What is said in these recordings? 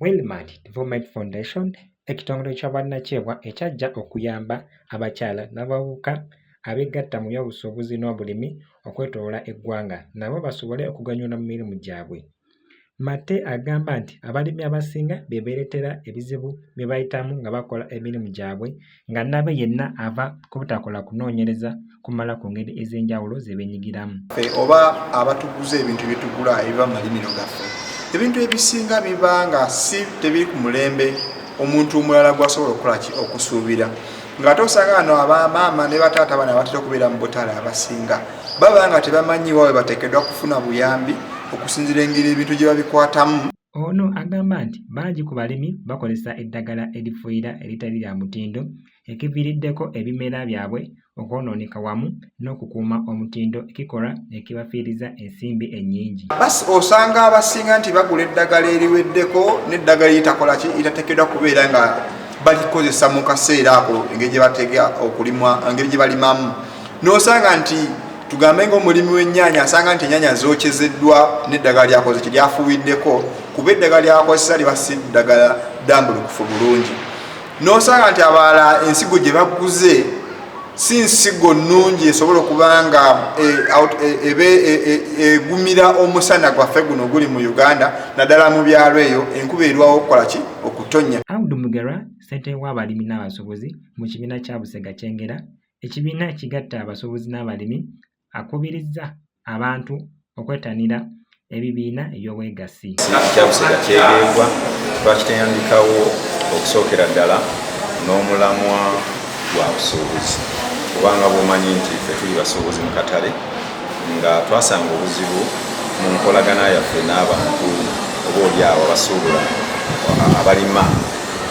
Wilmard Development Foundation ekitongole ky'obwannakyewa ekyajja okuyamba abakyala n'abavubuka abeegatta mu by'obusuubuzi n'obulimi okwetooloola eggwanga nabo basobole okuganyula mu mirimu gyabwe. Matte agamba nti abalimi abasinga bye beereetera ebizibu bye bayitamu nga bakola emirimu gyabwe nga nnabe yenna ava ku butakola kunoonyereza kumala ku ngeri ez'enjawulo ze beenyigiramu. Oba abatuguza ebintu bye tugula ebiva mu malimiro gaffe, ebintu ebisinga biba nga si tebiri ku mulembe omuntu omulala gw'asobola okukola ki okusuubira. nga ate osanga ano abamaama ne bataata bana batera okubeera mu butale abasinga baba nga tebamanyi wawe bateekeddwa kufuna buyambi okusinzira engeri ebintu gye babikwatamu ono agamba nti bangi ku balimi bakozesa eddagala erifuuyira eritali lya mutindo ekiviiriddeko ebimera byabwe okwonooneka wamu n'okukuuma omutindo ekikolwa ekibafiiriza ensimbi ennyingi. Osanga abasinga nti bagula eddagala eriweddeko n'eddagala eritakola ki eritateekeddwa kubeera nga balikozesa mu kaseera ako engeri gye batega okulimwa engeri gye balimamu n'osanga nti tugambe ngaomulimi w'ennyanya asanga nti ennyanya zookezeddwa n'eddagala lyakoze kye lyafuuwiddeko kuba eddagala lyakozesa liba si ddagala ddambulukufu bulungi. nosanga nti abalala ensigo gye baguze si nsigo nnungi esobola okuba nga ebe e, e, e, egumira omusana gwaffe guno oguli mu uganda naddala mu byalo eyo enkuba erwawo okukola ki okutonya abdu mugerwa ssentebe w'abalimi n'abasuubuzi mu kibiina kya busega kyengera ekibiina ekigatta abasuubuzi n'abalimi akubirizza abantu okwettanira ebibiina eby'obwegassi. Kyabusega kyegeegwa twakiteyandikawo okusookera ddala n'omulamwa gwa busuubuzi kubanga bwomanyi nti ffe tuli basuubuzi mu katale nga twasanga obuzibu mu nkolagana yaffe n'abantu oba olyawo abasuubula abalima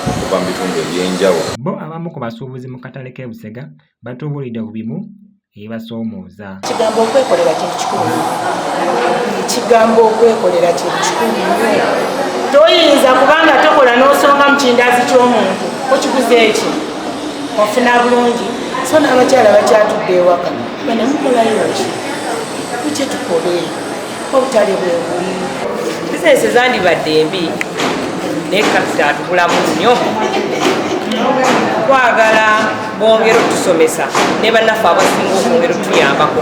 okuva mu bitundu ebyenjawulo. Bo abamu ku basuubuzi mu katale k'e Busega batubuulidde ku bimu ebibasoomooza kigambo okwekolera kintu kikulu ekigambo okwekolera kintu kikulu nnyo toyinza kubanga tokola n'osonga mu kindaazi ky'omuntu okiguze eki ofuna bulungi so n'abakyala bakyatudde ewaka banamukolayooki kukyetukolee obutale bwebuli bizinesi zandibadde embi naye kapita atukulamu nnyo twagala bongera otusomesa ne bannaffe abasinga okwongera otuyambako